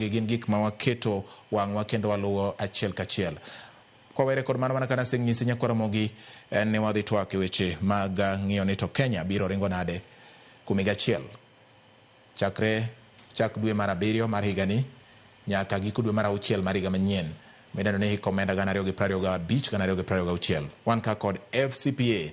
Magi gin gik ma waketo wang'wa kendo waluwo achiel kachiel. Kwawere kod mano, mana ka nasenyisi Nyako Ramogi, en ne wadhi twak e weche mag ng'iyo ni to Kenya biro ringo nade kuom higa achiel chakre chak dwe mar abiriyo mar higani nyaka giko dwe mar auchiel mar higa manyien midendo ni hik omenda gana ariyo gi prariyo gabich, gana ariyo gi prariyo gauchiel. Wan ka kod FCPA.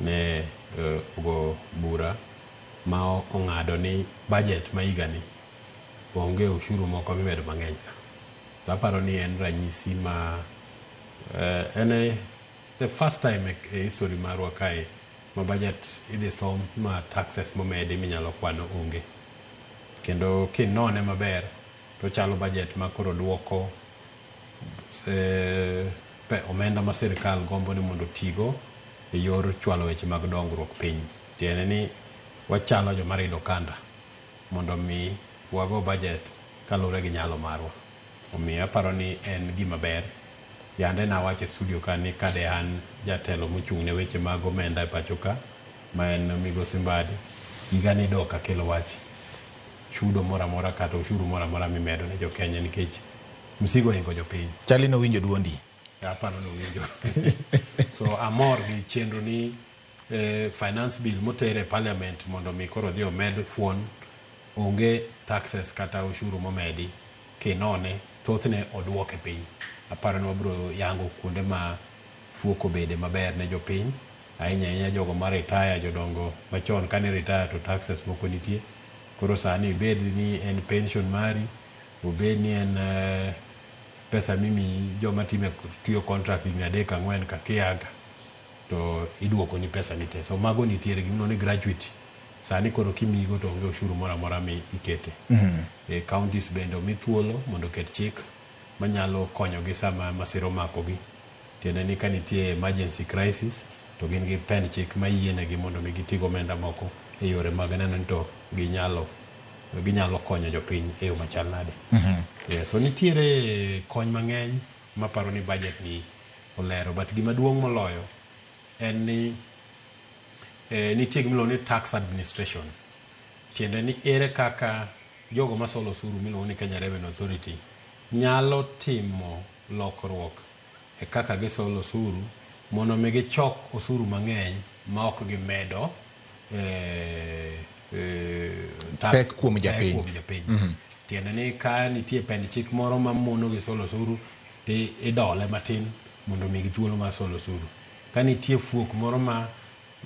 ne ogo bura ma ong'ado ni budget ma higa ni onge ushuru moko mimedo mang'eny ka. So aparo ni en ranyisi ma en e the first time e history marwa kae ma budget idhi som ma taxes momedi minyalo kwano onge. Kendo kinone maber tochalo budget ma koro duoko eh, pe- omenda ma sirkal gombo ni mondo otigo e yor chwalo weche mag dongruok piny tiende ni wachalo joma rido kanda mondo mi wago bajet kaluwore gi nyalo marwa omiyo aparo ni en gima ber yande nawacho e studio ka ni kade an jatelo mochung' ne weche mag omenda e pacho ka ma en migosi mbadi higa ni dok akelo wach chudo moro amora kata ushuru moro amora mimedo ne jokenya nikech Msigo ohingo jopiny. Chali ni owinjo duondi. Aparo ni owinjo. so amor gi chenro ni eh, finance bill motere e parliament mondo mi koro dhi omed fuon onge taxes kata ushuru momedi kinone thothne oduoke piny. Aparo ni wabiro yango kuonde ma fuok obede maber ne jopiny ahinya ahinya jogo ma retire jodongo machon kane retire to taxes moko nitie koro sani ibed ni en pension mari obed ni en pesa mimiyi joma time tiyo contract higni adek ang'wen ka kiaga to iduoko ni pesa ni te. So mago nitiere gimiluongo ni gratuity. Sani koro kimiyigo to onge oshuru moro amora mi ikete. E counties bende omi thuolo mondo oket chik manyalo konyogi sama masira omakogi. Tiende ni ka nitie emergency crisis to gin gi pend chik mayienegi mondo mi giti gomenda moko e yore mag neno ni to ginyalo. ginyalo konyo jopiny e yo machal nade. Yes, so nitiere kony mang'eny maparo ni budget ni olero but gima duong' moloyo en ni eh, nitie gimiluongo ni tax administration. Tiende ni ere kaka jogo masolo osuru miluongo ni Kenya Revenue Authority nyalo timo lokruok e kaka gisolo osuru mondo omi gichok osuru mang'eny ma ok gimedo pek kuom japiny. Tiende ni ka nitie pend chik moro ma mono gi solo osuru to idole matin mondo omigi thuolo mar solo osuru. Ka nitie fuok moro ma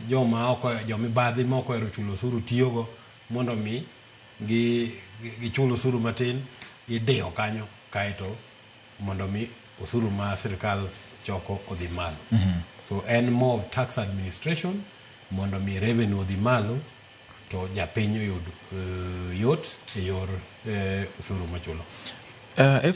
joma ok jo mibadhi ma ok ohero chulo osuru tiyogo mondo omi gichul osuru matin, idiyo kanyo kaeto mondo mi osuru ma sirkal choko odhi malo. Mm -hmm. So en more of tax administration mondo mi revenue odhi malo to japiny oyud uh, yot e yor uh, osuru machulo. Uh,